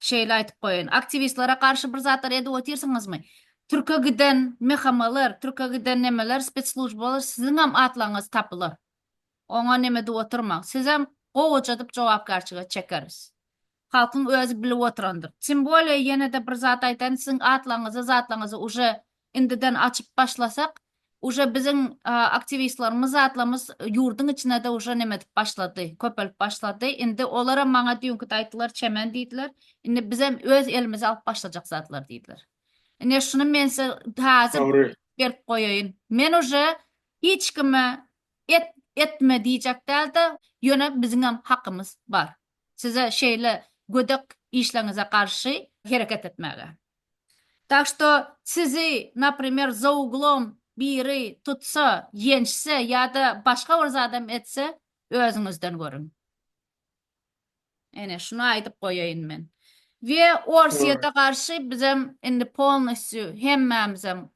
Şeýle aýdyp goýaýyn. Aktiwistlere garşy bir zatlar edip otyrsyňyzmy? Türke giden MHM-ler, türke giden nemeler, spetslujbalar siziňem atlaryňyz tapylar. Oňa neme edip oturmaň. Sizem gowajadyp jogapkärçilige çekeris. Halkyň özi bilip oturandyr. Tim bolýa ýene-de bir zat aýdaýyn, siziň atlaryňyzy, zatlaryňyzy uje indiden açyp başlasak uje biziň aktiwistlerimiz zatlamyz ýurdyň içinede uje neme edip başlady köpelip başlady indi olaram maňa düýnkide aýtdylar çemen diýdiler indi bizem öz elimize alyp başlajak zatlar diýdiler ine şuny men size taze berip goýaýyn men uje hiç kime et etme diýjek dälde ýöne biziňem hakymyz bar size şeýle gödek işleňize garşy hereket etmäge. Tak što sizi naprimer za uglom biri tutsa, ýençse ýa-da başga bir zadam etse, özüňizden görüň. Ene, şuny aýdyp goýaýyn men. We Orsýete garşy bizem indi polnostýu hemmämizem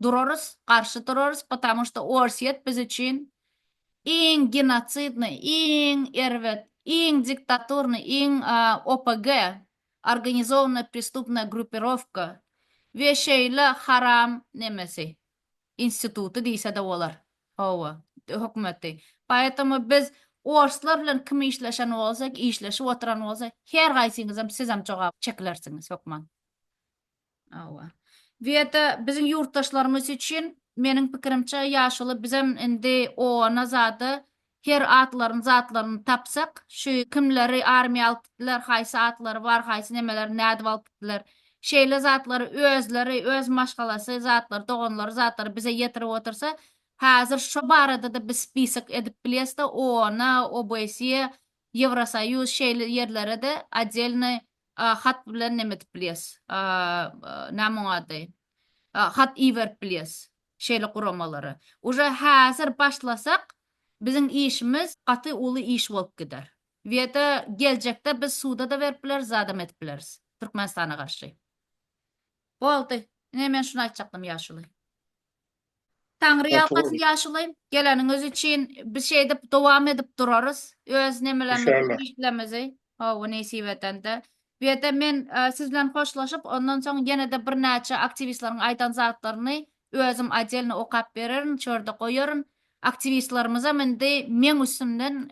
durarys, garşy durarys, patamu što Orsýet biz üçin iň genotsidnyý, iň erbet, iň diktaturnyý, iň OPG organizowanyna pristupna grupirowka we şeýle haram nemesi instituty diýsede bolar hawa hökümeti poetomo biz orslar bilen kim işleşen bolsa işleşip oturan bolsa her gaýsyňyzam sizem jogap çekilersiňiz hökman. Hawa. Weta biziň ýurtdaşlarymyz üçin meniň pikirimçe ýaşuly bizem indi ona zada her atlaryny zatlaryny tapsak şu kimleri armiýa alyp gitdiler haýsy atlary bar haýsy nemeleri nädip alyp gitdiler şeýle zatlary özleri öz maşgalasy zatlary doganlary zatlary bize ýetirip otursa häzir şo baradada biz spisok edip bilesde ona obsýe ýewrosoýuz şeýle ýerlerede odelny A hat bilen neme edip bilýäs? A näme oň ady? A hat iberip bilýäs şeýle guramalara. Uje häzir başlasak biziň işimiz gaty uly iş bolup gider. Weda geljekde biz suda-da berip bileris, zadam edip bileris Türkmenistana garşy. Boldy. Ine men şuny aýtjakdym ýaşuly. Taňry ýalkasyn ýaşuly. Geleniňiz üçin biz şeýdip dowam edip durarys öz nemelerimizi işlerimizi hawa nesip edende. Bu ýerde men siz bilen hoşlaşyp ondan soň ýene-de birnäçe aktiwistleriň aýdan zatlaryny özüm odelny okap bererin şu ýerde goýaryn. Aktiwistlerimizem indi meň üstümden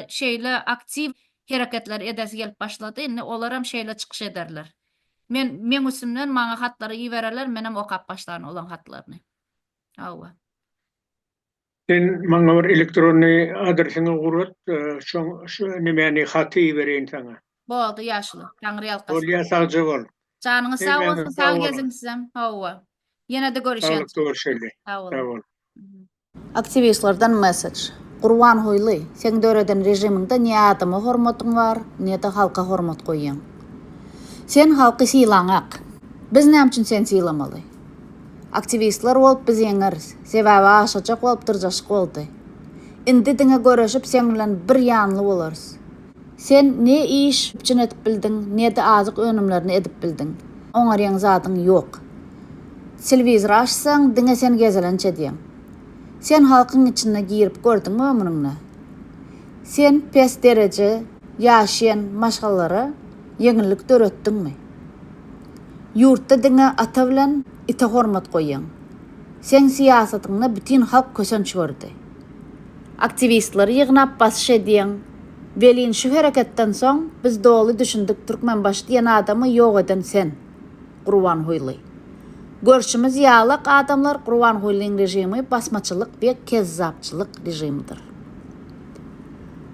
şeýle aktiw hereketler edesi gelip başlady indi olaram şeýle çykyş ederler. Men meň üstümden maňa hatlary ibererler, menem okap başlaryn olaň hatlaryny. Hawa. Sen maňa bir elektrony adresiňi gurat, şoň şu nemäni haty ibereýin saňa. Boldy ýaşuly. Taňryýalkasyn. Bolýa sagja bol. Janyňyz sag Hemmäňiz bolsun, sag sag boluň. geziň sizem. Hawa. Ýenede görüşeýin. Saglyk görüşeli. Sag boluň. Sag bol. Aktiwistlerden mesej. Gurbanguly, seň döreden režimiňde ne adama hormatyň bar, ne-de halka hormat goýýaň. Sen halky sylaňak. Biz näme üçin seni sylamaly? Aktiwistler bolup biz ýeňeris, sebäbi aşajak bolup dyrjaşyk boldy. Indi diňe göreşip seň bilen bir ýanly bolarys. Sen ne iş üpjün edip bildiň, ne-de azyk önümlerini edip bildiň. Oňarýan zadyň ýok. Telewizor açsaň, diňe sen gezelenç edýäň. Sen halkyň içine girip gördüňmi ömrüňde? Sen pes dereje ýaşaýan maşgalalara ýeňillik döretdiňmi? Ýurtda diňe ata bilen ite hormat goýýaň. Seň syýasatyňda bütin halk kösenç gördi. Aktiwistleri ýygnap basyş edýeň. Welin şu hereketden soň biz doly düşündik Türkmenbaşy diýen adamy ýok eden sen. Gurbanhuýly. Görşümiz ýalak adamlar Gurbanhuýlyň režimi basmaçylyk we kezzapçylyk režimidir.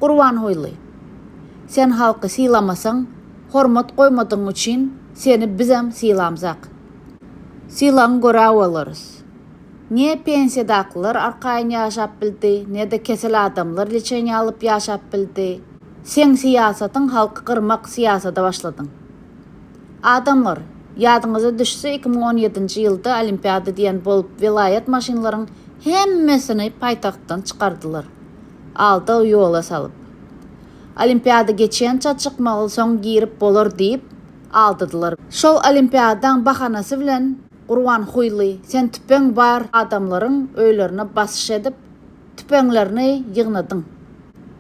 Gurbanhuýly. Sen halky sylamasaň, hormat goýmadygyň üçin seni bizem sylamzak. Sylaň göräolarys. Ne pensiýadakylar arkaýyn ýaşap bildi, ne-de kesel adamlar liçeniýa alyp ýaşap bildi. Seň syýasatyň halky gyrmak syýasada başladyň. Adamlar, ýadyňyza düşse iki müň on ýedinji ýylda olimpiada diýen bolup welaýat maşynlaryň hemmesini paýtagtdan çykardylar, alda ýola salyp. Olimpiada geçençä çykmaly soň girip bolar diýip aldadylar. Şol olimpiadaň bahanasy bilen Gurbanhuýly, sen tüpeň bar adamlaryň öýlerine basyş edip, tüpeňlerini ýygnadyň.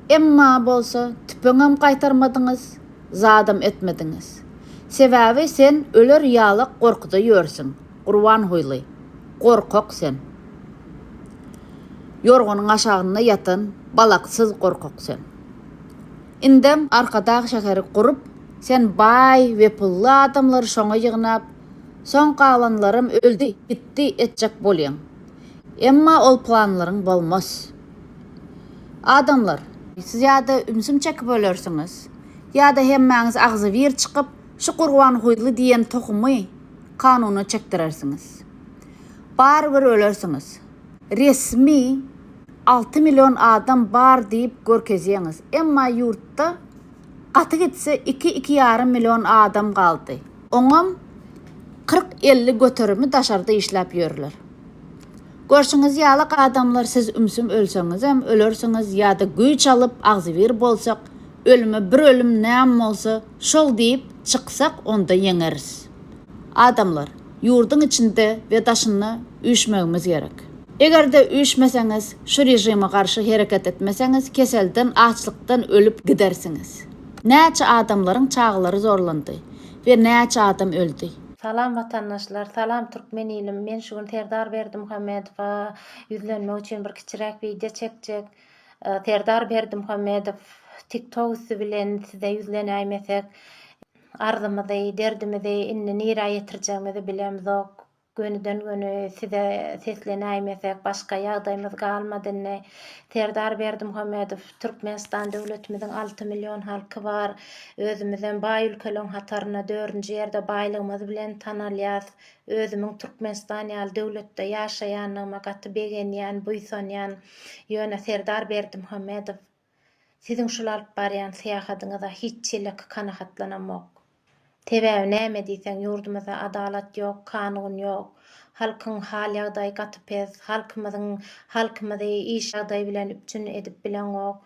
Emma bolsa tüpeňem gaýtarmadyňyz, zadam etmediňiz. Sebäbi sen öler ýalak gorkuda ýörsüň, Gurbanhuýly, gorkak sen. Ýorganyň aşagynda ýatan balaksyz gorkak sen. Indem Arkadag şäheri gurup, sen baý we pully adamlary şoňa ýygnap, Soň galanlaram öldi, gitdi etjek bolýaň. Emma ol planlaryň bolmaz. Adamlar, siz ýa-da ümsüm çekip ölersiňiz, ýa-da hemmäňiz agzybir çykyp, şu Gurbanguýly diýen tohumy kanuna çekdirersiňiz. Barybir ölersiňiz. Resmi alty million adam bar diýip görkezýäňiz, emma ýurtda gaty gitse iki-iki ýarym million adam galdy. Oňam kyrk-elli göterimi daşarda işläp ýörler. Görşüňiz ýaly adamlar siz ümsüm ölseňizem ölersiňiz ýa-da güýç alyp agzybir bolsak ölüme bir ölüm näm bolsa şol diýip çyksak onda ýeňeris. Adamlar, ýurduň içinde we daşynda üýşmegimiz gerek. Eger-de üýşmeseňiz, şu režime garşy hereket etmeseňiz keselden, açlykdan ölüp gidersiňiz. Näçe adamlaryň çagalary zorlandy. we näçe adam öldi? Salam watandaşlar salam türkmen ilim men şu gün Serdar Berdimuhamedowa ýüzlenmek üçin bir kiçiräk wideo çekjek Serdar Berdimuhamedow tik tok üsti bilen size ýüzlenäýmesek arzymyzy derdimizi indi nirä ýetirjegimizi bilemzok Gönüden göni size seslenäýmesek başga ýagdaýmyz galmady indi. Serdar Berdimuhamedow Türkmenistan döwletimiziň alty million halky bar. Özümizem baý ülkeleň hatarynda dördünji ýerde baýlygymyz bilen tanalýas. Özümiň Türkmenistan ýaly döwletde ýaşaýandygyma gaty begenýän, buýsanýan. Ýöne Serdar Berdimuhamedow. Siziň şul alyp barýan syýahadyňyza hiç çelek kanahatlanamok. Sebäbi näme diýseň ýurdumyzda adalat ýok, kanun ýok. Halkyň hal ýagdaýy gaty pes, halkymyzyň halkymyzy iş ýagdaýy bilen üpjün edip bileňok.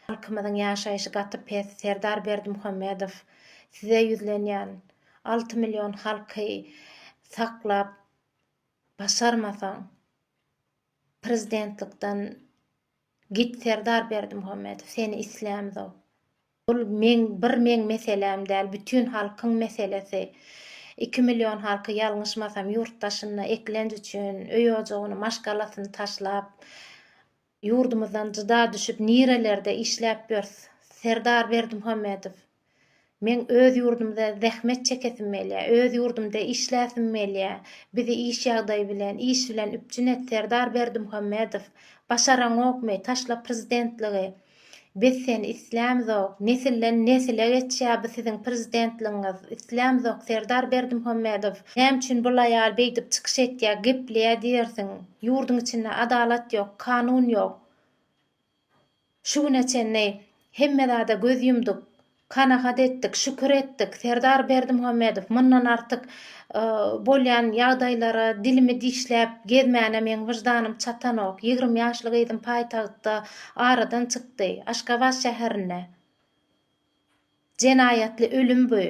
Halkymyzyň ýaşaýşy gaty pes, Serdar Berdimuhamedow size ýüzlenýän, alty million halky saklap başarmasaň prezidentlikden Git Serdar Berdimuhamedow seni islämzok. Bul meň bir meň meseläm däl bütün halkyň meselesi. Iki million halky ýalňyşmasam ýurt daşynda eklenç üçin öý ojagyny maşgalasyny taşlap ýurdumyzdan jyda düşüp nirelerde işläp ýörs Serdar Berdimuhamedow. Meň öz ýurdumda zähmet çekesim gelýä, öz ýurdumda işläsim gelýä, bizi iş ýagdaýy bilen, iş bilen üpjün et Serdar Berdimuhamedow, başaraňokmy, taşla prezidentligi, biz seni islämzok, nesilden nesile geçýä bu siziň prezidentligiňiz, islämzok Serdar Berdimuhamedow, näme üçin bul aýal beýdip çykyş etýä, gepleýä diýersiň, ýurduň içinde adalat ýok, kanun ýok. Şu güne çenli hemme zada göz ýumduk, kanagat etdik, şükür etdik, Serdar Berdimuhamedow mundan artyk bolýan ýagdaýlara dilimi dişläp gezmäne meň wyždanym çatanok, ýigrimi ýaşly gyzym paýtagtda aradan çykdy, Aşgabat şäherinde jenaýatly ölüm bu.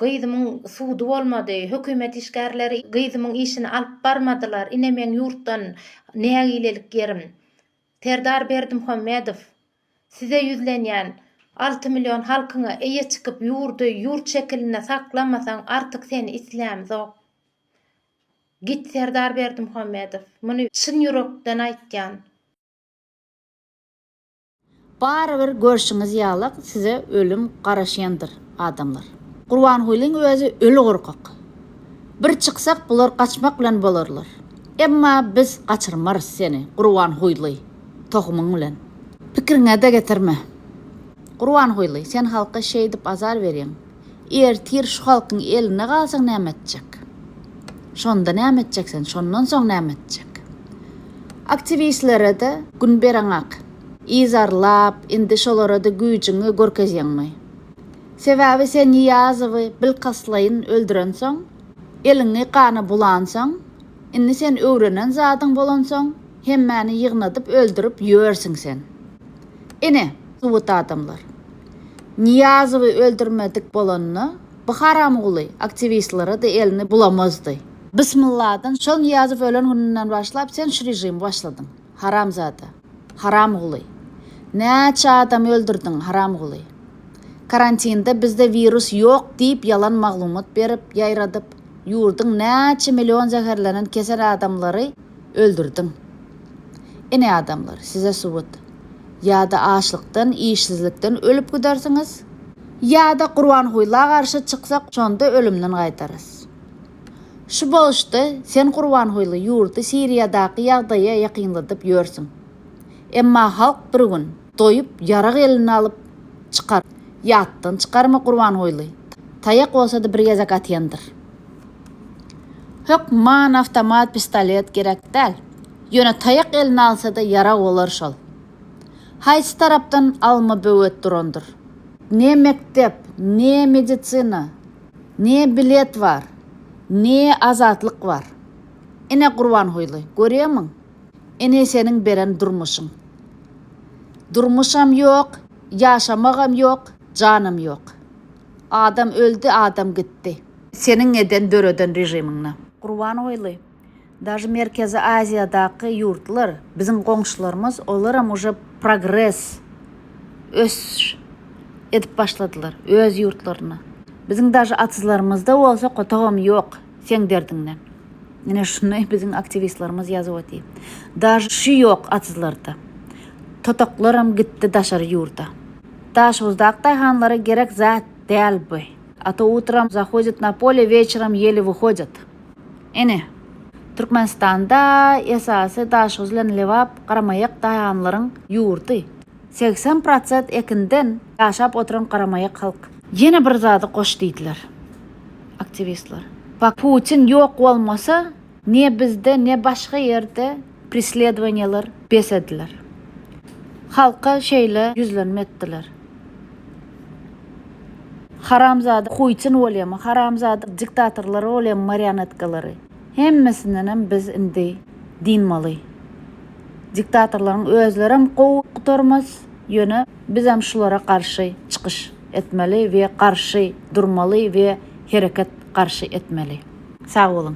Gyzymyň sudy bolmady, hökümet işgärleri gyzymyň işini alyp barmadylar, ine meň ýurtdan nägilelik ýerim. Serdar Berdimhomedow, size ýüzlenýän, alty million halkyňa eýe çykyp ýurdy ýurt şekilinde saklamasaň artyk seni islämzok. Git Serdar Berdimhomedow, muny çyn ýürekden aýtýan. Barybir görşüňiz ýalak size ölüm garaşýandyr adamlar. Gurbangulyň özi öli gorkak. Bir çyksak bular gaçmak bilen bolarlar. Emma biz gaçyrmarys seni Gurbanhuýly tohumyň bilen. Pikiriňede getirme. Gurbanhuýly sen halka şeýdip azar berýäň. Ertir şu halkyň eline galsaň näme etjek? Şonda näme etjek sen? Şondan soň näme etjek? Aktiwistlere-de gün bereňak. Yzarlap, indi şolara-da güýjüňi görkezýäňmi? Sebäbi sen Nyýazowy bilkastlaýyn öldürensoň, eliňi gana bulansoň, indi sen öwrenen zadyň bolansoň, hemmäni ýygnadyp öldürip ýörsiň sen. Ine, subut adamlar. Niýazowy öldürmedik bolanda, bu haramguly aktiwistlere-de elini bulamazdy. Bismylladan, şol Niýazow ölen gününden başlap sen şu režimi başladyň, haramzada, haramguly. Näçe adamy öldürdiň, haramguly. Karantinde bizde wirus ýok diýip ýalan maglumat berip, ýaýradyp, ýurduň näçe million zäherlenen kesel adamlary, Öldürdiň. Ine adamlar, size subut. Ýa-da açlykdan, işsizlikden ölüp gidersiňiz. Ýa-da Gurbangulla garşy çyksak, şonda ölümden gaýdarys. Şu boluşda sen Gurbanguly ýurdy Siriýadaky ýagdaýa ýakynladyp ýörsüň. Emma halk bir gün. Doýup, ýarag eline alyp, çykar. Ýatdan çykarma Gurbanguly. Taýak bolsady bir gezek atýandyr. Hökman awtomat pistolet gerek däl. Ýöne taýak eline alsada ýarag bolar şol. Haýsy tarapdan alma böwet durandyr. Ne mekdep, ne medisina, ne bilet bar, ne azatlyk bar. Ine Gurbanguly, görýärmiň? Ine seniň beren durmuşyň. Durmuşam ýok, ýaşamagam ýok, janam ýok. Adam öldi, adam gitdi. Seniň eden döreden režimiňde. Gurbanguly, daže Merkezi Aziýadaky ýurtlar, biziň goňşularymyz, olaram uje progres, ösüş edip başladylar öz ýurtlarynda. Biziň daže atyzlarymyzda bolsa kotagam ýok seň derdiňden. Ine şuny biziň aktiwistlerimiz ýazyp otyr. Daže şu ýok atyzlarda. Totaklaram gitdi daşary ýurda. Daşoguzdaky daýhanlara gerek zat däl bu. A to utram zahodit na pole weçeram ýeli wyhodit. Ine Türkmenistanda esasy Daşoguz bilen Lebap garamaýak daýhanlaryň ýurdy. Segsen prosent ekinden ýaşap oturan garamaýak halk. Ýene bir zady goş diýdiler aktiwistler. Putin ýok bolmasa ne bizde ne başga ýerde presledowaniýalar bes ediler. Halka şeýle ýüzlenme etdiler. Haramzada Putin bolýamy, haramzada diktatorlary bolýamy marionetkalary. Hemmesindenem biz indi dynmaly. Diktatorlaryň özlerem gowy gutarmaz, ýöne bizem şulara garşy çykyş etmeli we garşy durmaly we hereket garşy etmeli. Sag boluň.